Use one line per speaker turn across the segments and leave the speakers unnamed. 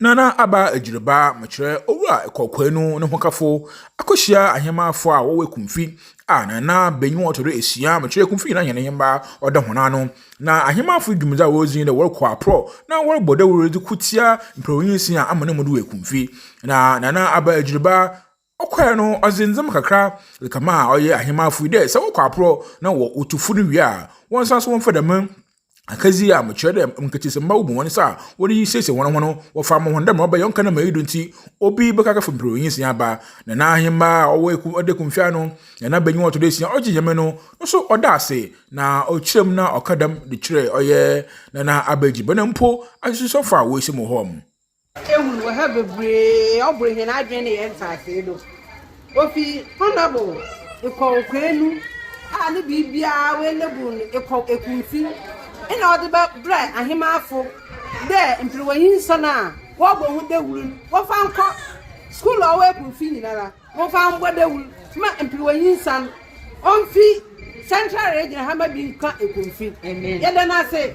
Nana Aba Agyiriba, mekyerɛ Owura Ɛkɔ Kwainu ne hokafo, akɔhyia ahemmaafo a wɔwɔ Ekumfi a Nana Benyi wɔn tɔdɔ esia, mekyerɛ Ekumfi nyinaa hɛn hemma ɔda hɔn ano. Na ahemmaafo dwumadzi a wɔredzi dɛ wɔrokɔ aprɔ na wɔrobɔ dawur dze ko tsia mprɛwnyinsi a ama no mu do wɔ Ekumfi. Na Nana Aba Agyiriba Ɔkɔe no, ɔdze ndzɛmba kakra dze kamaa ɔyɛ ahenman afoe dɛ sɛ wɔkɔ aprɔ na wotu fun wie a, wɔnsan so wɔmfa dɛm akadzi a mekyerɛ dɛ nketsesamba wobu hɔn nsa a wɔdze resiesie hɔnho no wɔfa ama hɔn dɛ mbrɛ ɔbɛyɛ ɔnnka dɛ ma iyi do ntsi obi bɛkakafo mper onyinsia aba. Na n'ahenba a ɔwɔ eku ɔda ekumfi ano, na n'abanyin a ɔtɔ do esia ɔgye nyame no no so ɔda ase na ɔkyerɛ mu na ɔka dɛm de kyerɛ ɔyɛ na n'abaedziban mpo asosuafo a woehyɛ mu wɔ hɔ. Ehun wɔ ha
bebree a ɔbor hɛn adwen na hɛn ntseasee do. Ofi Honourable Ekɔw Kwenu a ne biribiara oenable no Ekɔw Ekunfi na ɔdze bɛ brɛ Ahemanfo dɛ mber wɔnye nsɔn a wɔbɔ ho dawur no wɔmfa nkɔ skuul a ɔwɔ Ekunfi nyinara wɔmfa mbɔ dawur ma mber wɔnye nsan ɔmfi central region ha ma bi nkã Ekunfi. Yɛda no ase.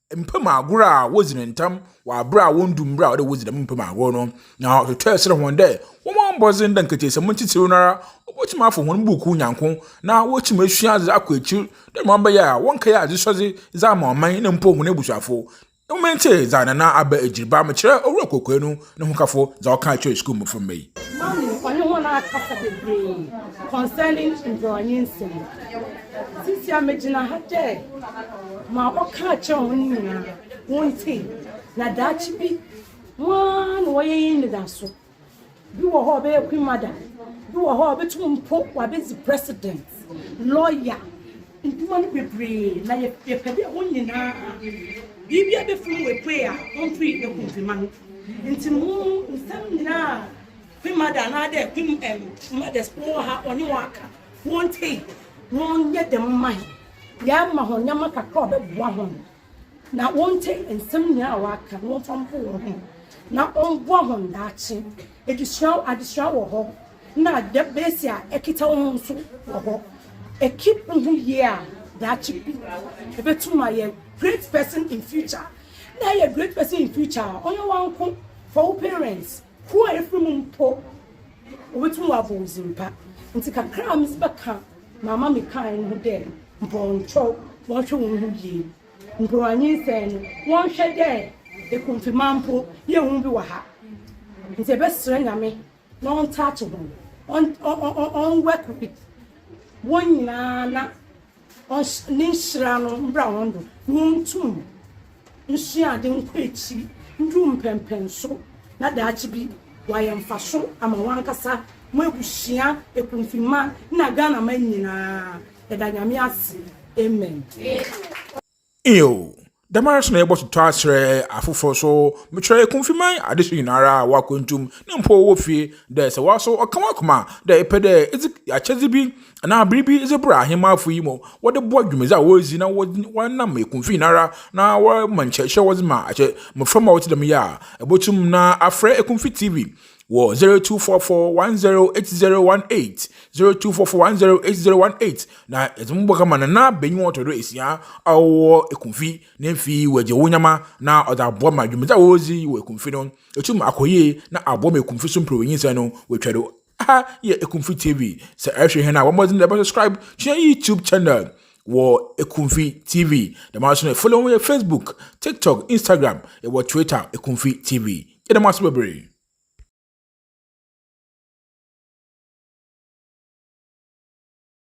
mpam agor a wodzi no ntsɛm wɔ aber a wonndu mber a ɔwɔ dɛ wodzi dɛm mpam agor no, na ɔtwetwɛɛ serɛ hɔn dɛ wɔmbɔ mbɔdzen dɛ nketseesɛm ntsitsir no ara obotum afa hɔn mbuukuu nyanko na woetum esua adze akɔ ekyir dɛ ma ɔbɛyɛ a wɔnnkɛyɛ adzesɔdze dze ama ɔman na mpo hɔn ebusuafo. Ɔma ntsie dza Nana Aba Egyirba mekyerɛ Owura Kwokwenu no ho kafo dza ɔkaa kyerɛɛ skuul mboframba yi. Mame ɔnye hɔn aakasa beberee
concerning mborɔnye nsɛm. Sisiara megyina ha dɛ ma ɔkaa kyerɛɛ hɔn nyina wontsie na daakye bi woana na wɔyɛ enyidado. Bi wɔ hɔ a ɔbɛyɛ Queen Mother, bi wɔ hɔ a obotum mpo ɔabedzi President, Lawyer, Ndwuma no bebree na yɛpɛ dɛ hɔn nyina biribiara befir mu epue a ɔmmpue eku Pema no. Ntsi mo nsɛm nyina a Pema dɛ anaadɛ Pem em mothers po wɔ ha ɔnye hɔn aka, wɔntsie. Wɔnyɛ dɛm mma hɛn. Yɛama hɔn ndzɛmba kakra a ɔbɛboa hɔn. na wɔntsie nsɛm nyina a wɔakã na wɔmfa mpo hɔnho na ɔmboa hɔn daakye. Edzesua adzesua wɔ hɔ na debate a ekitsa wo ho so wɔ hɔ. Ekeep woho yie a, daakye bi ebotum ayɛ great person in future. Nna eyɛ great person in future a, ɔnnyɛ woanko, fa wo parents, Kuw a yɛfiri mu mpo, wɔbɛtumi wɔabɔ wo dzin pa. Ntsi kakra a medze bɛkã ma ama mekãe no ho dɛ, mpɔnkyɔw, wɔnhwɛ hɔnho yie. Mborɔnyinsɛn no, wɔnhwɛ dɛ ekunfema mpo yɛ hu bi wɔ ha. Ntsi yɛbɛserɛ Nyame na ɔntaakye hɔn, ɔn, ɔn, ɔn, ɔn, ɔnwork with hɔn nyina na Ɔs Ne nhyira no mbra hɔn do, na hɔn tum nsua adze nkɔ ekyir ndu mpɛnpɛn so, na daakye bi wɔayɛ mfaso ama hɔnankasa, hɔn ebusua, ekunfinmba, na Ghanaman nyina. Yɛda Nyame ase. Amen. Nyew,
dɛmara so na yɛbɔtotɔ akyerɛ afofor so. Mekyerɛ Ekumfiman adze so nyinara a wɔakwantu mu na mpo wɔwɔ fie dɛ sɛ woara so ɔka w'akoma dɛ epɛ dɛ edze akyɛdze bi anaa biribi dze bra Ahemafo yi mu wɔdze boa dwumadzi a woridzi na wɔnam Ekumfi nyinara na wɔma nkyerɛkyerɛ wɔdze ma akyɛ mboframba a wɔtse dɛm yi a, ibotum na afrɛ Ekumfi TV wɔ 0244108018 0244108018 na yɛdze mo bɔ kama na na banyin ɔtɔ do esia a ɔwɔ ekumfi ne mfe wɔ egya wonyama na ɔdze aboa ma dwumadzi a wɔdzi wɔ ekumfi no etum akɔ yie na aboa ma ekumfi so mper wɔ nyinsɛn no wetwa do aha yɛ ekumfi tv sɛ ɛhwɛ hɛn a bɔ mbɔdzen dɛ bɛ subscribe to yɛn youtube channel wɔ ekumfi tv dɛm ara so na follow yɛ facebook tiktok instagram wɔ twitter ekumfi tv Yɛda mo ase bebree.